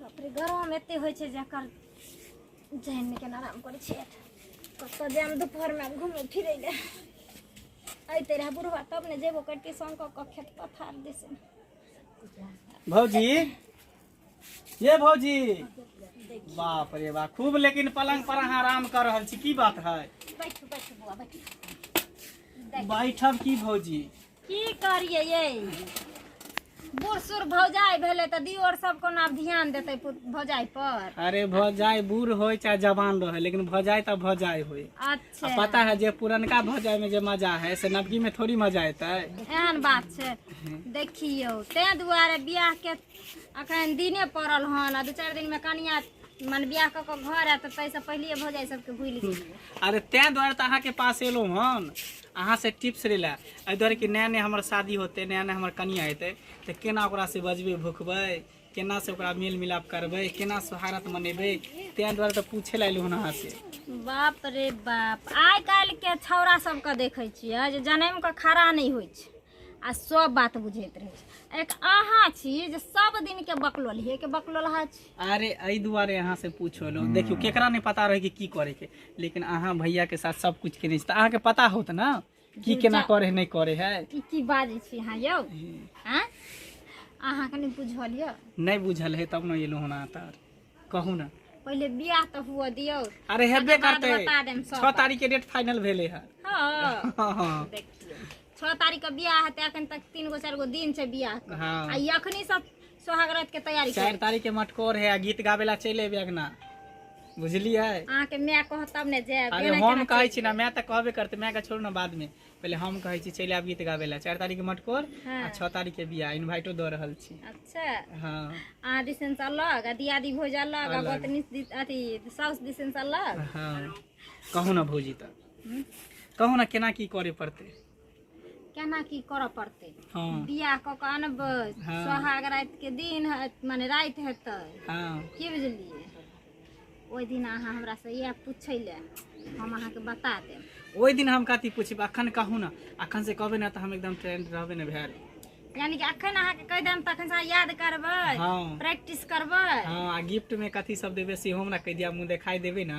बापरे गरम एते होइ छै जकर जहन के आराम करै छै कतऽ जायब दुपहरमे घूमे फिरे ले अयते रहे बुढ़वा तब ने जेबो करती संग कऽ कऽ खेत पथार दिस भौजी ये भौजी बाप रे बा खूब लेकिन पलंग पर अहाँ आराम कर रहल छी की बात है बैठ बैठ बुआ बैठ बैठब की भौजी की करिए ये बूढ़ सूढ़ भौजाई भेले तऽ दियोर सब कोना ध्यान देते भौजाई पर अरे भौजाई बूढ़ हो चाहे जवान रहे लेकिन भौजाई तो भौजाई हो अच्छा पता है जे पुरनका भौजाई में जे मजा है से नबकी में थोड़ी मजा अतै एहन बात छै देखियो ते दुआरे बियाह के अखन दिने पड़ल हन दू चार दिन में कनिया मन बियाह क के घर आयत तैसे पहिले भौजाई सबके भूल गेलिए अरे ते दुआरे तऽ अहाँके पास एलहुँ हन अहाँ से टिप्स लै लए एहि दुआरे कि नया नया हमर शादी होते नया नया हमर कनिया हेतै तऽ केना ओकरा से बजबै भुकबै केना से ओकरा मेल मिलाप करबै केना सोहारत मनेबै ताहि दुआरे तऽ पूछे लए एलहुँ हन अहाँ से बाप रे बाप आइ काल्हिके छौड़ा सबके देखै छियै जे जनैमके खड़ा नहि होइ छै आ सब बात बुझैत रहै छै एक अहाँ छी जे सब दिनके बकलोलिएके बकलोलहा छी अरे एहि दुआरे अहाँ से पूछल हम्म। देखियो केकरा नहीं पता रहे कि की करे के लेकिन अहाँ भैया के साथ सब कुछ के नहीं तो अहाँ के पता होत ना की केना करे नहीं करे है की की बाजे छी हां यो हां अहाँ के नहीं बुझल यो नहीं बुझल है तब न एलो होना तार कहू ना पहले बियाह तो हुआ दियो अरे हेबे करते 6 तारीख के डेट फाइनल भेले है हां हां हाँ। देखियो 6 तारीख के बियाह है त अखन तक 3 गो 4 गो दिन से बियाह हां आ अखनी सब सोहाग रात के तैयारी चारि तारीख के मटकोर है गीत गाबे ला चलि अबे अंगना बुझलियै अहाँ के माय कह तब ने जायब अरे हम कहै छी ना माय तऽ कहबे करते माय के छोड़ू ना बाद में पहले हम कहै छी चलि आब गीत गाबे ला चारि तारीख के मटकोर हाँ। आ छह तारीख के बियाह इनवाइटो दऽ रहल छी अच्छा हाँ अहाँ दिसन से अलग आ दियादी भोज अलग आ अलग। गोतनी दिस- अथी साउस दिसन से अलग हाँ कहू ना भौजी तऽ कहू ना केना की करे पड़ते केना की करऽ पड़तै हँ बियाह कऽ के अनबै हँ। सोहाग राति के दिन हत- माने राति हेतै हँ की बुझलियै ओहि दिन अहाँ हमरा से इएह पूछै ले हम अहाँके बता देब ओहि दिन हम कथी पूछब अखन कहू ने अखन से कहबै ने तऽ हम एकदम ट्रेंड रहबे ने भेल यानी कि अखन अहाँके कहि देब तखन से अहाँ याद करबै हँ प्रैक्टिस करबै हँ आ गिफ्ट में कथी सब देबै सेहो हमरा कहि दिया मुँह देखाई देबै ने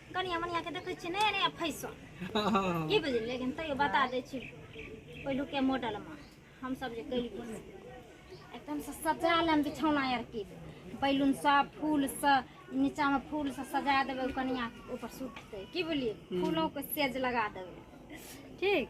कनिया मनिया के देखे छियै नया नया फैशन की बुझलियै लेकिन तैयो बता दै छी पहिलुके मॉडलमे हमसभ जे कहियै से। एकदम से सजा लेम बिछौना आर की बैलून से फूल से नीचा में फूल से सजा देबै ओ कनिया के ऊपर सुततै की बोलिए फूलों के सेज लगा देबै ठीक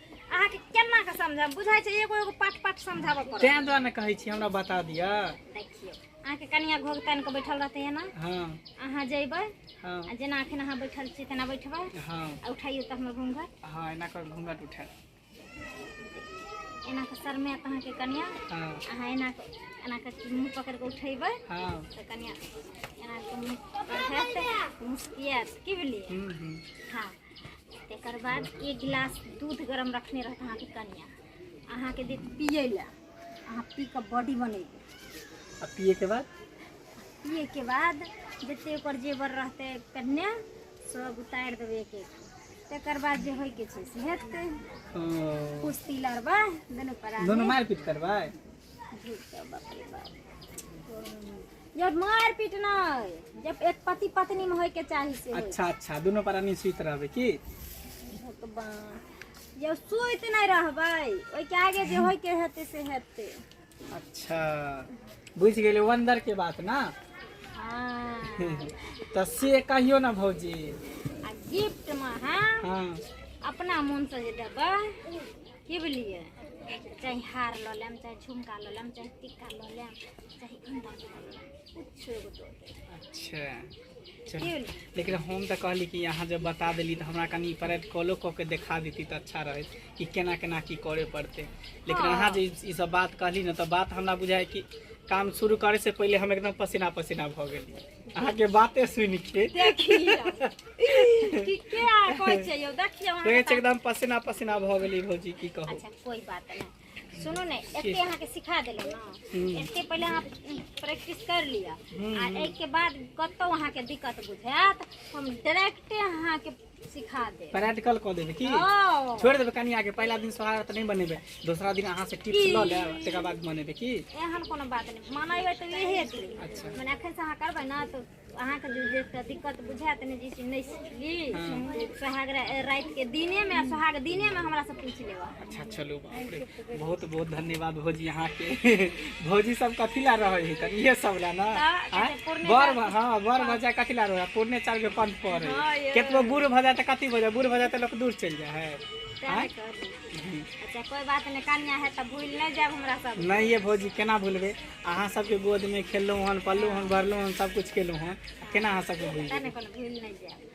अहाँके केना के समझाएब बुझाइ छै एगो एगो पाट पाट समझाबऽ पड़त तें दुआरे ने कहै छी हमरा बता दिअ देखियौ अहाँके कनिया घोघ तानि कऽ बैठल रहतै एना हँ अहाँ जैबै हँ आ जेना अखन अहाँ बैठल छी तेना बैठबै हँ आ उठाइयो तऽ हमर घूंघट हँ एना कर घूंघट उठा एना कऽ शर्मे तऽ अहाँके कनिया हँ अहाँ एना कऽ एना कऽ मुँह पकड़ि कऽ उठेबै हँ तऽ कनिया एना कऽ मुँह पकड़ि कऽ मुस्कियात की भेलियै हम्म, हम्म। हाँ तकर बाद एक गिलास दूध गरम रखने रहत अहाँके कनिया अहाँके देत पियै लए अहाँ पी कऽ बॉडी बनेबै आ पिए के बाद पिए के बाद जते ओकर जेवर रहतै कन्या सब उतारि देबै एक एक तकर बाद जे होइके छै से हेतै ओ, कुश्ती लड़बै दुनू परा दोनों मारपीट करबै यार मार पीट नहीं जब एक पति पत्नी में होय के चाही से होय। अच्छा अच्छा दोनों प्राणी सुत रहबे की भगवान जब सुत नहीं रहबै ओहि के आगे जे होय के हेते से हेते अच्छा बुझ गेले वंदर के बात ना हाँ तो से कहियो ना भौजी आ गिफ्ट में हम हाँ अपना मन से जे देबै की बोलिए चाहे हार लऽ लेम चाहे झुमका लऽ लेम चाहे टिक्का लऽ लेम चाहे अंडा लऽ लेम कुछो एगो दऽ देब अच्छा की चल बोलिए लेकिन हम तऽ कहली कि अहाँ जब बता देली तऽ हमरा कनि परेड कॉलो कऽ के देखा देती तऽ अच्छा रहत कि केना केना की करे पड़तै लेकिन हँ। अहाँ जे ई सब बात कहली ने तऽ बात हमरा बुझाय कि काम शुरू करे से पहिले हम एकदम पसीना पसीना भऽ गेली अहाँ के बाते सुन के देखी कि के आ कहै छै यौ देखियौ अहाँ देखे के छै एकदम पसीना पसीना भऽ गेली भौजी की कहू अच्छा कोई बात नहीं सुनो ने एते अहाँ के सिखा देलो ना हम्म। एते पहले अहाँ प्रैक्टिस कर लिया हम्म। आ एक के बाद कतौ अहाँ के दिक्कत बुझायत हम डायरेक्टे अहाँ के सिखा दे प्रैक्टिकल कऽ देबै की ओ छोड़ि देबै कनि आगे पहिला दिन सोहारा तऽ नहि बनेबै दोसरा दिन अहाँ से टिप्स लऽ लेब तकर बाद बनेबै की एहन कोनो बात नहि मनेबै तऽ इहे हेतै अच्छा। मने एखन से अहाँ करबै ने तऽ अहाँके जे जे एकटा दिक्कत बुझायत ने जे चीज नहि सिखली सोहाग रा- रातिके दिनेमे आ सोहाग दिनेमे हमरासँ पूछि लेब अहाँ। अच्छा चलू बाप रे बहुत बहुत धन्यवाद भौजी अहाँके भौजी सब कथी ला रहे है तनी ये सब ला ना हाँ, हाँ? जैसे पूर्णे बड़ चार- भ- हाँ बड़ भजा कथी ला रहे है पूर्णे चार के पंथ पर हाँ, है ये- केतनो बूढ़ भजा त कथी भजा बूढ़ भजा त लोग दूर चल जा है हाँ? अच्छा कोई बात नहीं कन्या है तो भूल नहीं जाए हमरा सब नहीं ये भौजी केना भूलबे अहाँ सबके गोद में खेललहुँ हन पललहुँ हन भरलहुँ हन सब कुछ केलहुँ हन केना अहाँ सबके भूल तने कोनो भूल नहीं जाए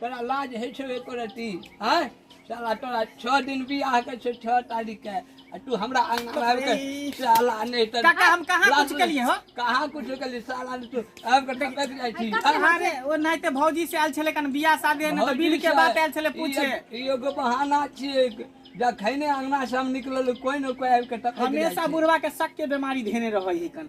तोरा लाज होइ छौ एको रति आँय साला तोरा छओ दिन बियाह के छै छओ तारीख के आ तू हमरा अंगना में आबि के साला नहि तऽ काका, हम कहाँ लाज कुछ केलियै हो? कहाँ कुछ केलियै साला ने तू आबि के टपक जाइ छी आँय? अरे ओ नहीं तो भौजी से आयल छले कन बियाह शादी है ना तो बील के बात आयल छले पूछे ई एगो बहाना छियै जखने अंगना से हम निकलल कोई ने कोई आबि के टपक जाइ हमेशा छै। बुढ़वा के शक के बीमारी धेने रहे है कन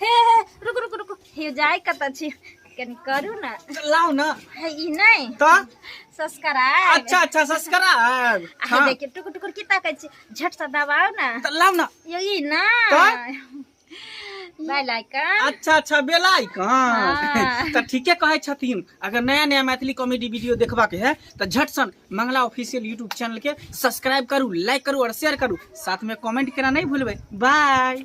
हे हे रुक रुक रुक हे जाय कत छी कनी करू ना लाओ ना हे ई नहीं तो सब्सक्राइब अच्छा अच्छा सब्सक्राइब आ हाँ। देखिए टुक टुक की ताकै छी झट से दबाओ ना तो लाओ ना यो ई ना तो? बेल आइकन अच्छा अच्छा बेल आइकन हाँ। तो ठीके कहे छथिन अगर नया नया मैथिली कॉमेडी वीडियो देखबा के है तो झट सन मंगला ऑफिशियल यूट्यूब चैनल के सब्सक्राइब करू लाइक करू और शेयर करू साथ में कमेंट करना नहीं भूलबे बाय